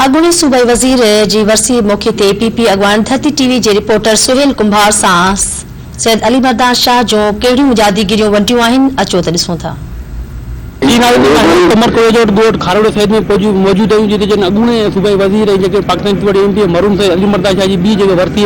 اڳوڻي صوبائي وزير جي ورسي موقعي تي پي پي اڳواڻ ڌرتي ٽي وي جي رپورٽر سهيل ڪنڀار سان سيد علي مردان شاهه جون ڪهڙيون مجاديگريون ونڊيون آهن اچو ته ڏسون ٿا. جي رايو ڪنڌار ضلعي جي قمر ڪويجهوٽ ڳوٺ کاروڙو سيد ۾ موجود آهيون جتي جن اڳوڻي صوبائي وزير ۽ جيڪي پاڪستان پيپلز پارٽي جي ايم پي اي مرحوم سيد علي مردان شاهه جي ٻي جيڪي ورسي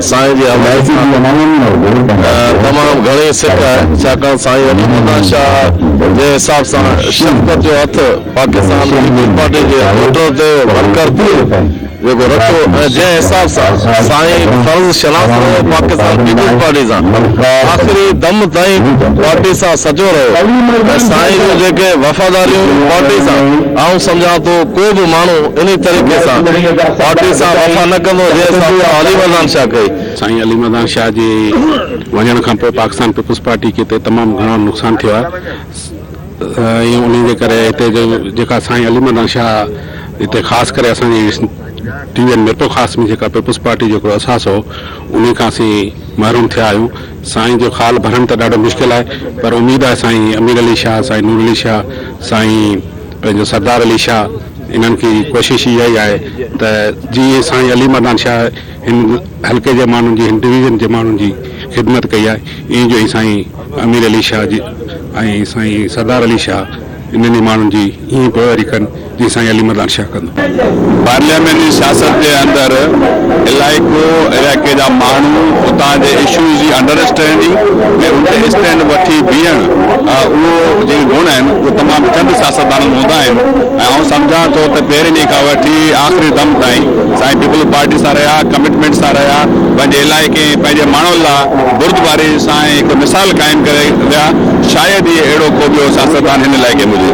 سائين جي حوالي سان تمام گهڻي سڪ آهي ڇاڪاڻ سائين علي مردان شاهه جي حساب سان شفقت جو هٿ پاڪستان پيپلز پارٽي جي ووٽر تي ورڪر تي جيڪو رکيو ۽ جنهن حساب سان سائين فرض شناس رهيو پاڪستان پيپلز پارٽي سان آخري دم تائين پارٽي سان سچو رهيو ۽ سائين جون جيڪي وفاداريون پارٽي سان آئون سمجهان ٿو ڪو به ماڻهو انهي طريقي سان پارٽي سان وفا نه ڪندو جنهن حساب سان علي مردان شاهه ڪئي. سائين علي مردان شاهه جي وڃڻ کان پوء پاڪستان پيپلز پارٽي کي هتي تمام گهڻو نقصان ٿيو آهي ۽ انهي جي ڪري هتي جو جيڪا سائين علي مردان شاهه هتي خاص ڪري اسان جي T V N Mirpur Khas ۾ جيڪا پيپلز پارٽي جو هڪڙو اساس هو انهي کان اسين محروم ٿيا آهيون سائين جو خال ڀرڻ ته ڏاڍو مشڪل آهي پر اميد آهي سائين امير علي شاهه سائين نور علي شاهه سائين پنهنجو سردار علي شاهه انهن کي ڪوشش اها ئي آهي ته جي اي سائين علي مردان شاهه هن حلقي جي ماڻهن جي هن ڊويزن جي ماڻهن جي خدمت ڪئي آهي ايئن جو اي سائين امير علي شاهه جي ۽ سائين سردار علي شاهه انهن ئي ماڻهن جي ايئن پوئواري ڪن جي سائين علي مردان شاهه ڪندو. پارلياماني سياست جي اندر علائقو علائقي جا ماڻهو اتان جي اشوز جي انڊر اسٽينڊنگ ۽ ان تي اسٽينڊ وٺي بيهڻ اهو جيڪي گڻ آهن اهي تمام چند سياستدانن ۾ هوندا آهن ۽ آئون سمجهان ٿو ته پهرين ڏينهن کان وٺي آخري دم تائين سائين پيپلز پارٽي سان رهيا ڪمٽمينٽ سان رهيا پنهنجي علائقي ۽ پنهنجي ماڻهن لا بردباري سان ۽ هڪ مثال قائم ڪري ويا شايد ئي اهڙو ڪو ٻيو سياستدان هن علائقي ۾ هجي.